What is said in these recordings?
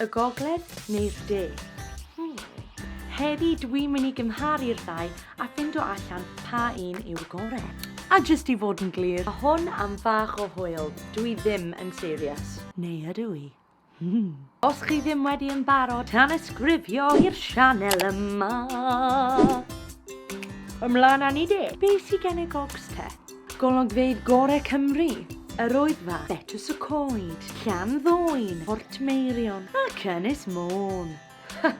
Y gogledd neu'r de? Heddi dwi'n mynd i gymharu'r ddau a ffindo allan pa un yw'r gore. A jyst i fod yn glir, a hwn am fach o hwyl, dwi ddim yn serious. Neu ydw i? Hmm. Os chi ddim wedi yn barod, tanysgrifio i'r sianel yma! Ymlaen â ni de! Be sy gen y gogs te? Golygfeydd gorau Cymru, Yr Oedfa, Betws y Coed, Llan Ddwyn, Portmeirion ac Ynys Môn. Ha!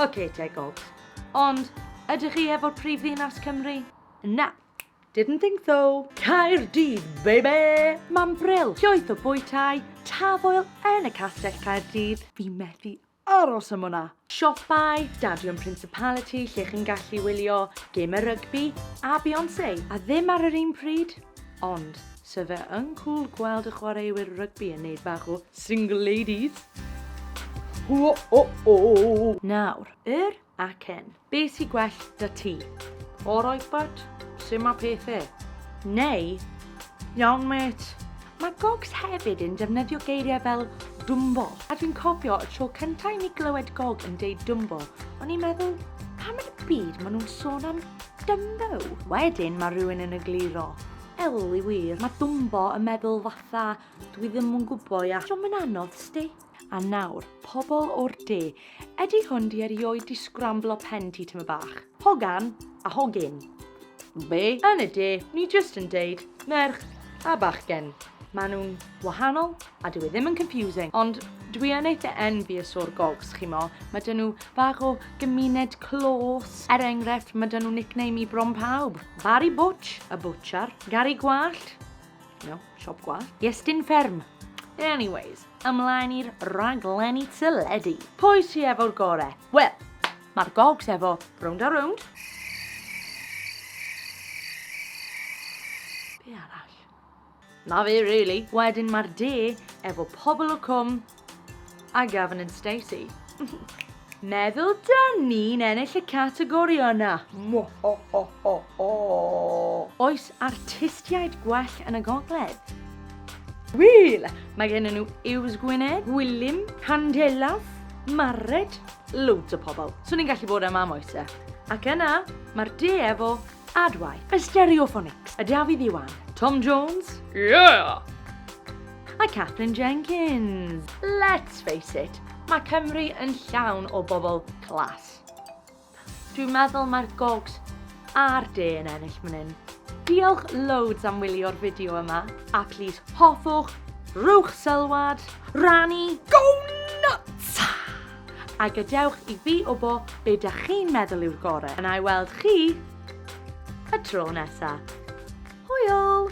Ok te, Gob. Ond, ydych chi efo'r prif ddinas Cymru? Na, Didn't think so. Caerdydd, baby! Mam Brill, llwyth o bwytai, tafoel yn y Castell Caerdydd. Fi methu Aros am hwnna! Siopau, Stadiwm Principality lle chi'n gallu wylio gemau rygbi a Beyonce, a ddim ar yr un pryd, ond so fe yn cwl gweld y chwaraewyr rygbi yn neud bach o single ladies. Hww o o! Nawr, yr ac yn. Be sy gwell 'da ti? Alright but, su' ma' pethe? Neu, Iawn mêt. Mae Gogs hefyd yn defnyddio geiriau fel Dumbo, a dwi'n cofio y tro cyntaf i mi glywed Gog yn deud Dumbo, o'n i'n meddwl, pam yn y byd maen nhw'n sôn am Dumbo? Wedyn mae rhywun yn egluro, Ellie wir, mae Dumbo yn meddwl fatha dwi ddim yn gwybod ia. Diom yn anodd, sti. A nawr, pobl o'r de, ydy hwn 'di erioed 'di sgramblo pen ti tyma bach? Hogan a hogyn. Be? Yn y de, ni jyst yn deud merch a bachgen. Maen nhw'n wahanol a dyw e ddim yn confusing, ond dwi yn eitha envious o'r gogs, chimo. Mae dyn nhw bach o gymuned clos. Er enghraifft, mae dyn nhw nickname i bron pawb. Barry Butch, y bwtshar. Gary Gwallt. No. Siop gwallt? Iestyn fferm! Anyways, ymlaen i'r rhaglenni teledu. Pwy sy efo'r gore? Wel, mae'r gogs efo rownd a rownd. Be arall? Na fe, really. Wedyn mae'r de efo pobl o cwm, A Gavin and Stacey. Meddwl da ni'n ennill y categori yna. Mo ho ho ho ho. Oes artistiaid gwell yn y gogledd? Wil, mae gen nhw Iws Gwynedd, Gwilym, Candelaf, Mared, loads o pobl. Swn i'n gallu bod am am oes e? Ac yna, mae'r de efo Adwaith. Y Stereophonics. Y Dafydd Iwan. Tom Jones. Yeah! A Catherine Jenkins. Let's face it, mae Cymru yn llawn o bobl clas. Dwi'n meddwl mae'r gogs a'r de yn ennill fan hyn. Diolch loads am wylio'r fideo yma, a plis hoffwch, rhywch sylwad, rannu, go nuts! A gadewch i fi wbo be dach chi'n meddwl yw'r gore, a na'i weld chi y tro nesa. Hwyl!